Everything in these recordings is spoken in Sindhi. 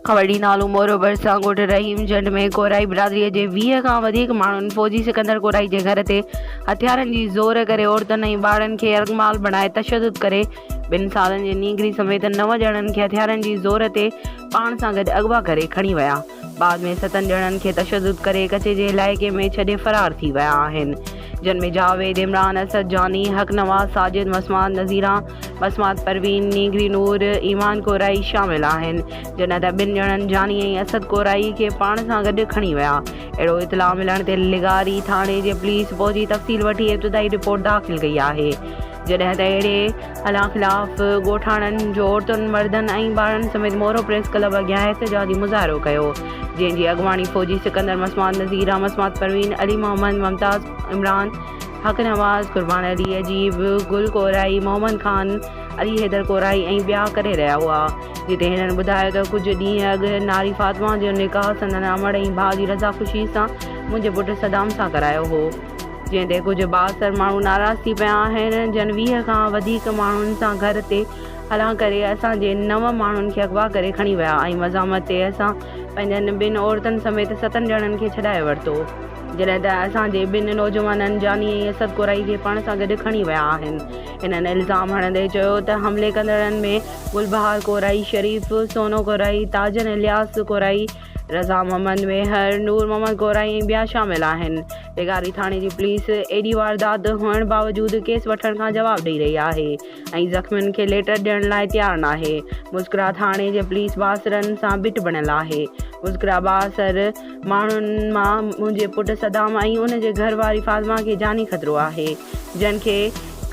کهڙي نالو مورو ڀرسان ڳوٺ رحيم جنڊ ۾ ڪورائي برادري جي ويهه کان وڌيڪ ماڻهن فوجي سڪندر ڪورائي جي گهر تي هٿيارن جي زور ڪري عورتن ۽ ٻارڙن کي يرغمال بڻائي تشدد ڪري ٻن سالن جي نينگري سميت نو ڄڻن کي هٿيارن جي زور تي پاڻ سان گڏ اغوا ڪري کڻي ويا بعد ۾ ستن ڄڻن کي تشدد ڪري ڪچي جي علائقي ۾ ڇڏي فرار ٿي ويا آهن جن ۾ جاويد عمران اسد جاني حق نواز ساجد مسمار نذيران بسمات پروين، نينگري نور، ايمان ڪورائي شامل آهن، جڏهن ته ٻن ڄڻن جاني ۽ اسد ڪورائي کي پاڻ سان گڏ کڻي ويا. اهڙو اطلاع ملڻ تي لغاري ٿاڻي جي پوليس پهچي تفصيل وٺي ابتدائي رپورٽ داخل ڪئي آهي، جڏهن ته اهڙي هلان خلاف ڳوٺاڻن جو عورتن، مردن ۽ ٻارڙن سميت مورو پريس ڪلب اڳيان احتجاجي مظاهرو ڪيو، جنهن جي اڳواڻي فوجي سڪندر مسمات نذير، رامسمات پروين، علي محمد، ممتاز عمران، حق نواز قربان علي عجيب، گل ڪورائي، محمد خان، علي حيدر ڪورائي ۽ ٻيا ڪري رهيا هئا. جتي هنن ٻڌايو ته ڪجهه ڏينهن اڳ ناري فاطمه جو نڪاح سندن امڙ ۽ ڀاء جي رضا خوشي سان منهنجي پٽ صدام سان ڪرايو هو. جنهن تي ڪجهه بااثر ماڻهو ناراض ٿي پيا آهن. جن ويهه کان وڌيڪ ماڻهن سان گهر تي هلان ڪري اسان جي نو ماڻهن کي اغوا ڪري کڻي ويا ۽ مزاحمت تي اسان پنهنجن ٻن عورتن سميت ستن ڄڻن کي ڇڏائي ورتو. جڏهن ته اسان جي ٻن نوجوانن جاني ۽ اسد ڪورائي کي پاڻ سان گڏ کڻي ويا آهن. هنن الزام هڻندي چيو ته حملي ڪندڙن ۾ گلبهار ڪورائي، شريف سونو ڪورائي، تاجن الياس ڪورائي، رضا محمد ميهر، نور محمد ڪورائي ۽ ٻيا شامل آهن. ڊگهاري ٿاڻي جي پوليس ايڏي واردات هئڻ باوجود ڪيس وٺڻ کان جواب ڏئي رهي آهي ۽ زخمين کي ليٽر ڏيڻ لاء تيار ناهي. مسڪرا ٿاڻي جي پوليس بااثرن سان بيٺ بڻيل آهي. مسڪرا بااثر. ماڻهن مان منهنجي پٽ صدام ۽ ان جي گهر واري فاطمه کي جاني خطرو آهي، جن کي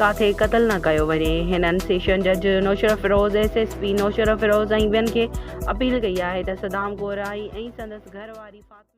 ڪاٿي قتل نه ڪيو وڃي. هنن سيشن جج Naushahro Feroze, S S P Naushahro Feroze ۽ ٻين کي اپيل ڪئي آهي ته صدام ڳورائي ۽ سندس گهر واري فاطمه.